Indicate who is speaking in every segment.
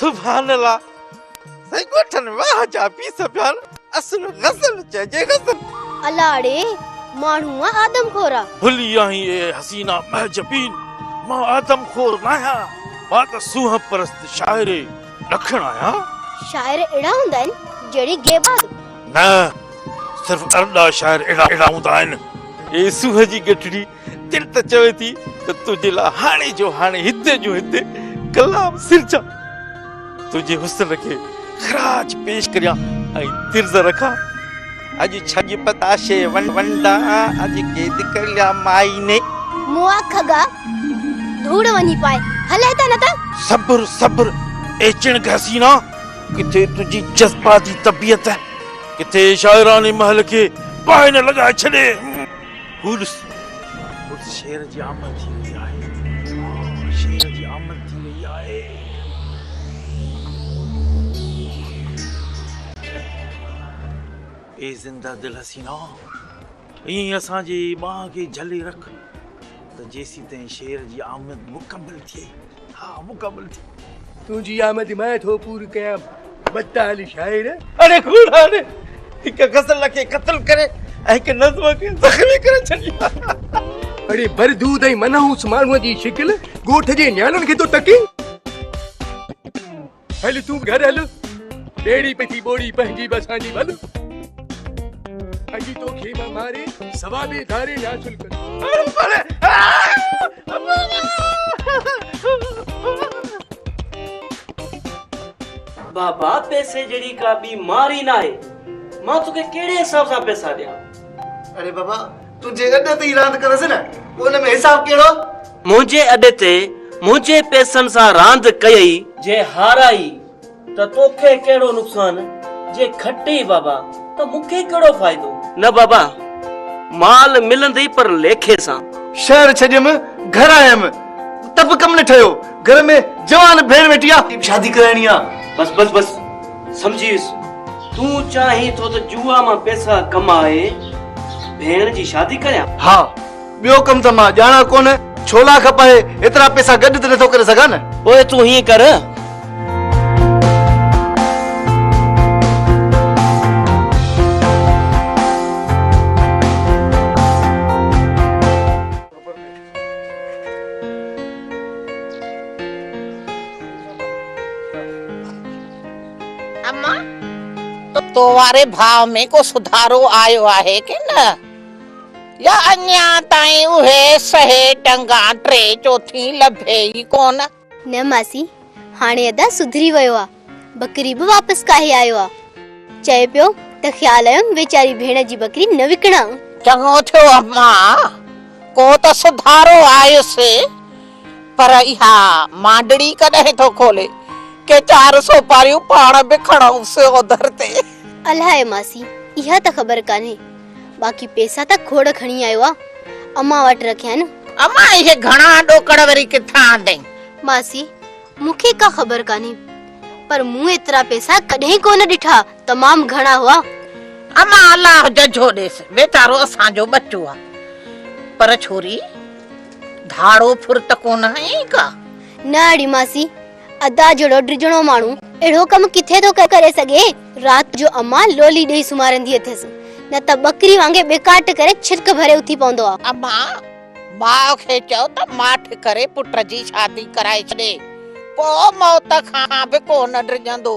Speaker 1: سبحان الله سائين ڳوٺن واهه جا پيس پيا اصل غزل چئجي غزل الاڙي
Speaker 2: ماڻهو آدم خورا ڀلي آهين اي
Speaker 1: حسينا مهجبين مان آدم خور ناهيان مان ته سونهن پرست شاعر ڏکڻ آهيان شاعر اهڙا
Speaker 2: هوندا آهن جهڙي گيباد نه
Speaker 1: صرف ارڏا شاعر اهڙا هوندا آهن اي سونهن جي ڳٺڙي تڙ ته چوي ٿي ته تنهنجي لاء هاڻي جو هاڻي هتي جو هتي ڪلام سرجان تنهنجي حسن کي خراج پيش ڪريان ۽ طرز رکان اڄ ڇڄ پتاشي ونڊا اڄ قيد ڪريا مائي ني مون اک گا
Speaker 2: ڌوڙ وڃي پائي هل هتان نه ته صبر صبر
Speaker 1: اي چڻ گهسينا ڪٿي تنهنجي جذباتي طبيعت ڪٿي شاعراني محل کي باهه نه لڳائي ڇڏي گڊس گڊس شير جي آمد ٿي وئي آهي شير جي آمد ٿي وئي آهي اي زنده دل حسينا ائين اسان جي ٻانهن کي جھلي رک ته جيسين تائين شير جي آمد مڪمل ٿئي ها مڪمل ٿي تنهنجي آمد
Speaker 3: مان ٿو پور ڪيام بدتال شاعر اڙي کوڙان
Speaker 1: هڪ غزل کي قتل ڪري ۽ هڪ نظم کي زخمي ڪري ڇڏي اڙي
Speaker 3: بردود ۽ منحوس ماڻهو جي شڪل ڳوٺ جي نياڻن کي ٿو ٽڪي هل تون به گهر هل ٻيڙي پئي ٿي ٻوڙي پنهنجي به اسان جي ڀل اڄ تو کي مان ماري سوا ڏي ڌاري يا چلڪ
Speaker 4: بابا پيسي جهڙي ڪا ٻي مار ئي ناهي مان توکي ڪهڙي حساب سان پيسا ڏيان اري بابا
Speaker 5: تنهنجي اڏ تي ئي راند ڪندس نه، پوء ان ۾ حساب ڪهڙو؟ منهنجي اڏ
Speaker 4: تي منهنجي پئسن سان راند ڪيئي. جي هارائي ته توکي ڪهڙو نقصان، جي کٽي بابا ته مون کي ڪهڙو فائدو. نه بابا، مال ملندي پر ليکي سان. شهر ڇڏيم،
Speaker 5: گهر آيم ته به ڪم نه ٺهيو، گهر ۾ جوان ڀيڻ ويٺي آ. شادي ڪرائڻي آ، بس بس بس.
Speaker 4: سمجهيس، تون چاهين ٿو ته جوا مان پئسا ڪمائي ڀيڻ جي شادي ڪريان؟ ها، ٻيو
Speaker 5: ڪم ته مان ڄاڻان ڪونه، ڇولا کپائي ايترا پئسا گڏ ته نٿو ڪري سگهان نه. پوء تون هيئن ڪر.
Speaker 6: تو واري ڀاء ۾ ڪو سڌارو آيو آهي ڪي نه يا اڃان تائين اهي سهي ٽنگان ٽي چوٿين لڀي ئي ڪونه نه ماسي
Speaker 2: هاڻي ادا سڌري ويو آ ٻڪري به واپس ڪاهي آيو آ چئي پيو ته خيال آيم ويچاري ڀيڻ جي ٻڪري نه وڪڻان. چڱو ٿيو
Speaker 6: امان ڪو ته سڌارو آيس پر اها مانڊڙي ڪڏهن ٿو کولي ڪي چار سوپاريون پاڻ به کڻئونس اوڌر تي. الاهي ماسي
Speaker 2: اها ته خبر ڪانهي باقي پيسا ته کوڙ کڻي آيو آ امان وٽ رکيا آهن. امان اهي گهڻا
Speaker 6: ڏوڪڙ وري ڪٿان آندئين؟ ماسي
Speaker 2: مون کي ڪا خبر ڪانهي پر مون ايترا پيسا ڪڏهن ڪونه ڏٺا تمام گهڻا هئا. امان
Speaker 6: الله ججهو ڏيس ويچارو اسان جو ٻچو آ پر ڇوري ڌاڙو ڦرت ڪونه هئين ڪا؟ نه اڙي
Speaker 2: ماسي ادا جهڙو ڊڄڻو ماڻهو اهڙو ڪم ڪٿي ٿو ڪري سگهي. رات جو امان لولي ڏئي سمهارندي اٿيس، نه ته ٻڪري وانگي ٻيڪاٽ ڪري ڇرڪ ڀري اٿي پوندو آ. امان،
Speaker 6: ماء کي چئو ته ماٺ ڪري پٽ جي شادي ڪرائي ڇڏي، پوء موت کان به ڪونه ڊڄندو.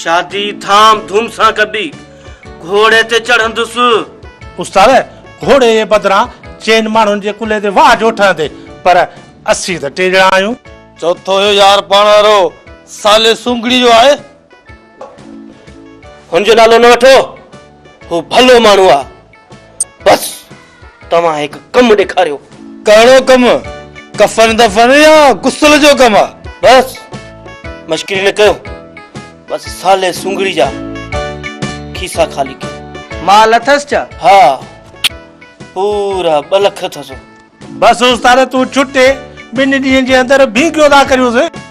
Speaker 4: شادي ڌام ڌوم سان ڪبي. گهوڙي تي چڙهندس. استاد!
Speaker 7: گهوڙي جي بدران چئن ماڻهن جي ڪلهي تي واهه جو ٺهندي، پر اسين ته ٽي ڄڻا آهيون. چوٿون اهو يار
Speaker 5: پاڻ وارو صالح سونگڙي جو آهي.
Speaker 4: هن جو نالو نه وٺو. هو ڀلو ماڻهو آهي. بس! توهان هڪ ڪم ڏيکاريو. ڪهڙو ڪم؟
Speaker 5: ڪفن دفن يا غسل جو ڪم آ. بس
Speaker 4: مشڪري نه ڪيو. بس سالي سونگڙي جا کيسا
Speaker 5: خالي ڪيو.
Speaker 4: مال
Speaker 5: اٿس
Speaker 4: ڇا؟ ها پورا ٻه لک اٿس. بس استاد
Speaker 7: تون ڇٽي ٻن ڏينهن جي اندر ڀينگيو ٿا ڪريونس.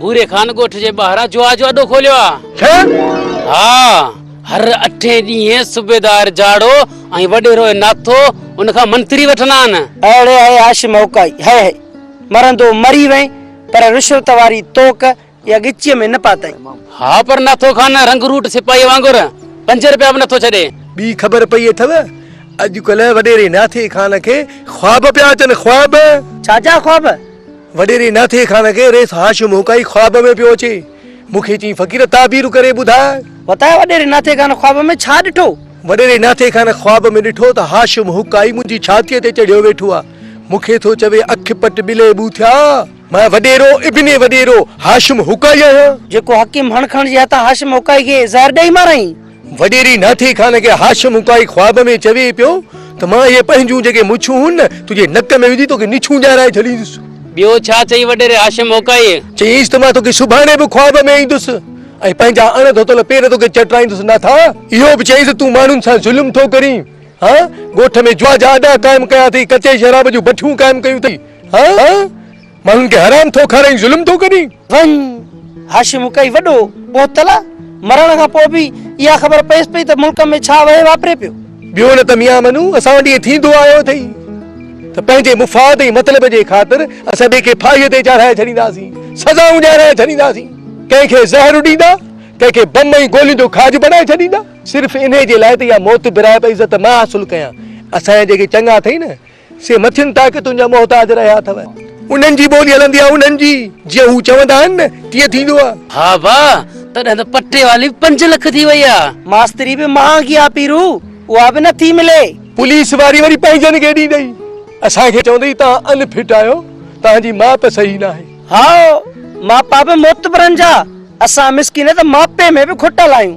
Speaker 8: ڀوري خان ڳوٺ جي ٻاهران جوا جو اڏو کوليو آ ها هر اٺين ڏينهن صوبيدار جاڙو ۽ وڏيرو ناٿو ان کان منتري وٺندا آهن اهڙي هي هاش
Speaker 9: مهڪائي هي هي مرندو مري وئين پر رشوت واري توڪ يا ڳچيء ۾ نه پاتئين. ها پر ناٿو
Speaker 8: خان رنگ روٽ سپاهيء وانگر پنج رپيا به نٿو ڇڏي. ٻي خبر پئي اٿو
Speaker 3: اڄڪلهه وڏيري ناٿي خان کي خواب پيا اچن خواب. ڇا جا خواب؟
Speaker 9: وڏيري ناٿي
Speaker 3: خان کي ريس هاشم هوڪائي خواب ۾ پيو اچي. مون کي چيائين فقير تعبير ڪري ٻڌاء. وتايا وڏيري ناٿي
Speaker 9: خان خواب ۾ ڇا ڏٺو؟ وڏيري ناٿي خان
Speaker 3: خواب ۾ ڏٺو ته هاشم هوڪائي منهنجي ڇاتيء تي چڙهيو ويٺو آ. مون کي ٿو چوي اک پٽ ٻلي ٻو ٿيا. مان وڏيرو ابن وڏيرو هاشم هوڪائي آهيان. جيڪو حڪيم هڻ کڻ
Speaker 9: جي هٿان هاشم هوڪائي کي زهر ڏئي ماريائين. وڏيري ناٿي
Speaker 3: خان کي هاشم اڪائي خواب ۾ چوي پيو ته مان اهي پنهنجون جيڪي مڇون هون نه تنهنجي نڪ ۾ وجهي توکي نڇون ڄارائي ڇڏيندس. ٻيو ڇا چئي
Speaker 8: وڏيري هاشم اڪائيء؟ چيائينس ته مان توکي
Speaker 3: سڀاڻي به خواب ۾ ايندس ۽ پنهنجا اڻ ڌوتل پير توکي چٽرائيندس ناٿا. اهو به چيائينس ته تون ماڻهن سان ظلم ٿو ڪرين ها، ڳوٺ ۾ جوا جا اڏا قائم ڪيا اٿئي، ڪچي شراب جون بٺيون قائم ڪيون اٿئي ها، ماڻهن کي حرام ٿو کارائين ظلم ٿو ڪرين. وڃ
Speaker 9: هاشم ڪئي وڏو بوتل مرڻ کان پوء به اها خبر پيس پئي ته ملڪ ۾ ڇا وهي واپري پيو. ٻيو نه ته ميان
Speaker 3: منو اسان وٽ ائين ٿيندو آيو اٿئي ته پنهنجي مفاد ۽ مطلب جي خاطر اسان ٻئي کي ڦاهيء تي چاڙهائي ڇڏينداسين، سزائون ڏيارائي ڇڏينداسين، ڪنهن کي زهر اڏيندا، ڪنهن کي بم ۽ گولين جو کاڄ بڻائي ڇڏيندا. صرف انهي جي لاء ته اها موت برائي پئي عزت مان حاصل ڪيان. اسان جا جيڪي چڱا اٿئي نه. سي مٿين ٽاڪي تنهنجا محتاج رهيا اٿو. انهن جي ٻولي هلندي آهي انهن جي، جيئن هو چوندا آهن نه تيئن ٿيندو آهي. ها با،
Speaker 8: تڏهن ته پٽي واري به پنج لک ٿي وئي آهي. ماستري به مهانگي
Speaker 9: آهي پيرو، اها به نٿي ملي. پوليس واري وري
Speaker 3: پنهنجن کي ڏيندئي اسان کي چوندئي تان ان فٽ آهيو، تان جي ماپ صحيح ناهي. هائو،
Speaker 9: ماپا به معتبرن جا، اسان مسڪين ته ماپي ۾ به کوٽل آهيون.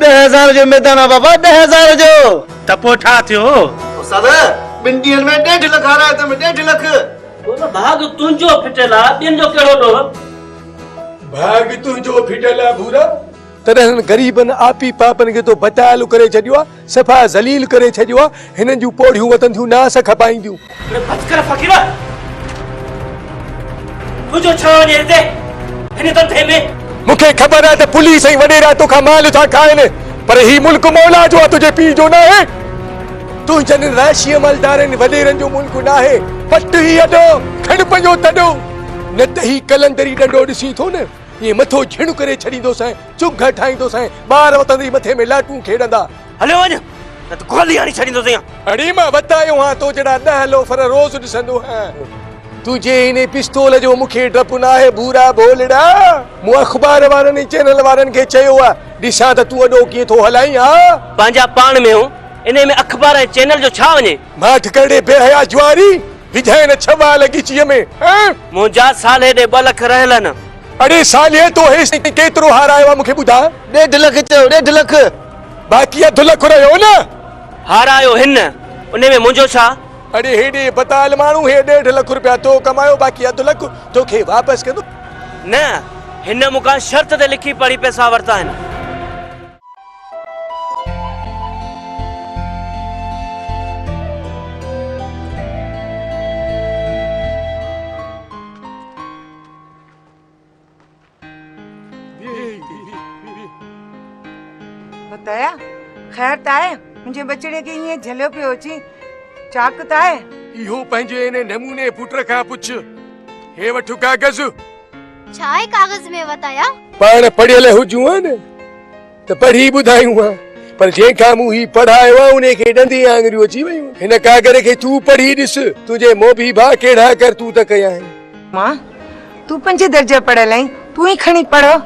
Speaker 9: ڏهه هزار جو
Speaker 5: ميدان آ بابا ڏهه هزار جو. ته پوء ٺاهه
Speaker 7: ٿيو. استاد
Speaker 5: ٻن ڏينهن ۾ ڏيڍ لک هارايو اٿم ڏيڍ لک. بابا ڀاڳ
Speaker 4: تنهنجو ڦٽيل آ ٻين جو ڪهڙو ڏوهه.
Speaker 3: ڀاڳ تنهنجو ڦٽيل آ ڀورا. تڏهن هنن غريبن آپي پاپن کي تو ڀٽائلو ڪري ڇڏيو آ. صفا ذليل ڪري ڇڏيو آ هنن جون پوڙهيون وتن ٿيون نه آس کپائينديون. اڙي بس ڪر
Speaker 4: فقيرا تنهنجو ڇا وڃي هتي هن ڌنڌي ۾. مون کي خبر آ ته
Speaker 3: پوليس ۽ وڏيرا توکان مال ٿا کائن پر هي ملڪ مولا جو آ تنهنجي پيء جو ناهي. تنهنجن ان راشي عملدارن وڏيرن جو ملڪ ناهي. پٽ هي اڏو کڻ پنهنجو تڏو نه ته هي قلندري ڏنڊو ڏسين ٿو نه ائين مٿو جهڻ ڪري ڇڏيندوسانء. چپ گهر ٺاهيندو سانء ٻار وتندي مٿي ۾ لاٽون کيڏندا. هليو وڃ
Speaker 4: نه ته گولي هڻي ڇڏيندوسين ها. اڙي مان وتايو
Speaker 3: هان تو جهڙا ڏهه لوفر روز ڏسندو هان. تنهنجي هن پستول جو مون کي ڊپ ناهي ڀورا ڀولڙا. مون اخبار وارن ۽ چينل وارن کي چيو آ ڏسان ته تون اڏو ڪيئن ٿو هلائين ها. پنهنجا پاڻ ۾
Speaker 4: هون انهي ۾ اخبار ۽ چينل جو ڇا وڃي. ماٺ ڪرڙي بي
Speaker 3: حيا جواري. وجهائين نه ڇهه وائل ڳچيء ۾، ۽. منهنجا
Speaker 4: صالح ڏي ٻه لک رهلن. اڙي صالح
Speaker 3: تو هيس تائين ڪيترو هارايو آ مون کي ٻڌاء. ڏيڍ لک چيو
Speaker 5: ڏيڍ لک. باقي اڌ
Speaker 3: لک رهيو نه. هارايو
Speaker 4: هن، انهي ۾ منهنجو ڇا؟ اڙي هيڏي
Speaker 3: بتال ماڻهو هي ڏيڍ لک رپيا تو ڪمايو باقي اڌ لک تو کي واپس ڪندو. نه،
Speaker 4: هن مون کان شرط تي لکي پڙهي پئسا ورتا آهن.
Speaker 10: ديا خير ته آهي منهنجي ٻچڙي کي ائين جهليو پيو اچي چاڪ ته آهي اهو
Speaker 3: پنهنجي ان نموني پٽ کان پڇ هي وٺ ڪاغذ
Speaker 2: ڇا اهي ڪاغذ ۾ وتايا؟ پاڻ پڙهيل
Speaker 3: هجون ها نه ته پڙهي ٻڌايون ها پر جنهن کان مون هي پڙهايو آهي انهي کي ڏندي آڱريون اچي ويون آهن. هن ڪاڳر کي تون پڙهي ڏس تنهنجي موڀي ڀاء ڪهڙا ڪرتوت ڪيا آهن. ماء!
Speaker 10: تون پنج درجا پڙهيل آهين تون ئي کڻي پڙهه.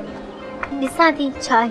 Speaker 10: ڏسان
Speaker 2: ٿي ڇا آهي.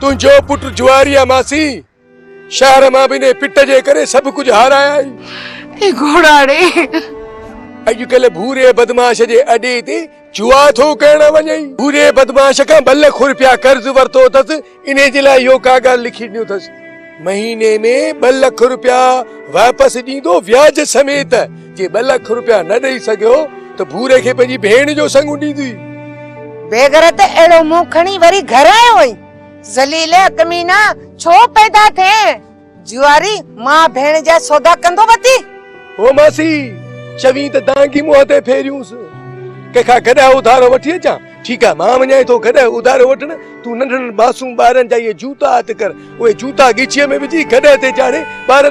Speaker 10: تنهنجو پٽ
Speaker 3: جواري آ ماسي. شهر مان به انهي پٽ جي ڪري سڀ ڪجهه هارايائين. اي
Speaker 10: گهوڙاڙي!
Speaker 3: اڄ ڪلهه ڀوري بدمعاش جي اڏي تي جوا ٿو ڪرڻ وڃين. ڀوري بدمعاش کان ٻه لک روپيا قرض ورتو اٿس، انهي جي لاء اهو ڪا ڳالهه لکي ڏنو اٿس. مهيني ۾ ٻه لک رپيا واپس ڏيندو وياج سميت، جي ٻه لک رپيا نه ڏئي سگهيو ته ڀوري کي پنهنجي ڀيڻ جو سڱو ڏيندي. بيغرت
Speaker 10: اهڙو منهن کڻي وري گهر آيو هئين. ذليله ڪمينا ڇو پيدا ٿئين. جواري ماء ڀيڻ جا سودا ڪندو وتي. هو ماسي
Speaker 3: چوين ته دانگي منهن تي ڦيريونس. ڪنهن کان ڪڏهن اڌارو وٺي اچان. ٺيڪ آهي مان وڃائين ٿو گڏهه اڌارو وٺڻ، تون ننڍڙن معصوم ٻارن جا اهي جوتا هٿ ڪر، اهي جوتا ڳچيء ۾ وجهي گڏهه تي چاڙهي ٻارن.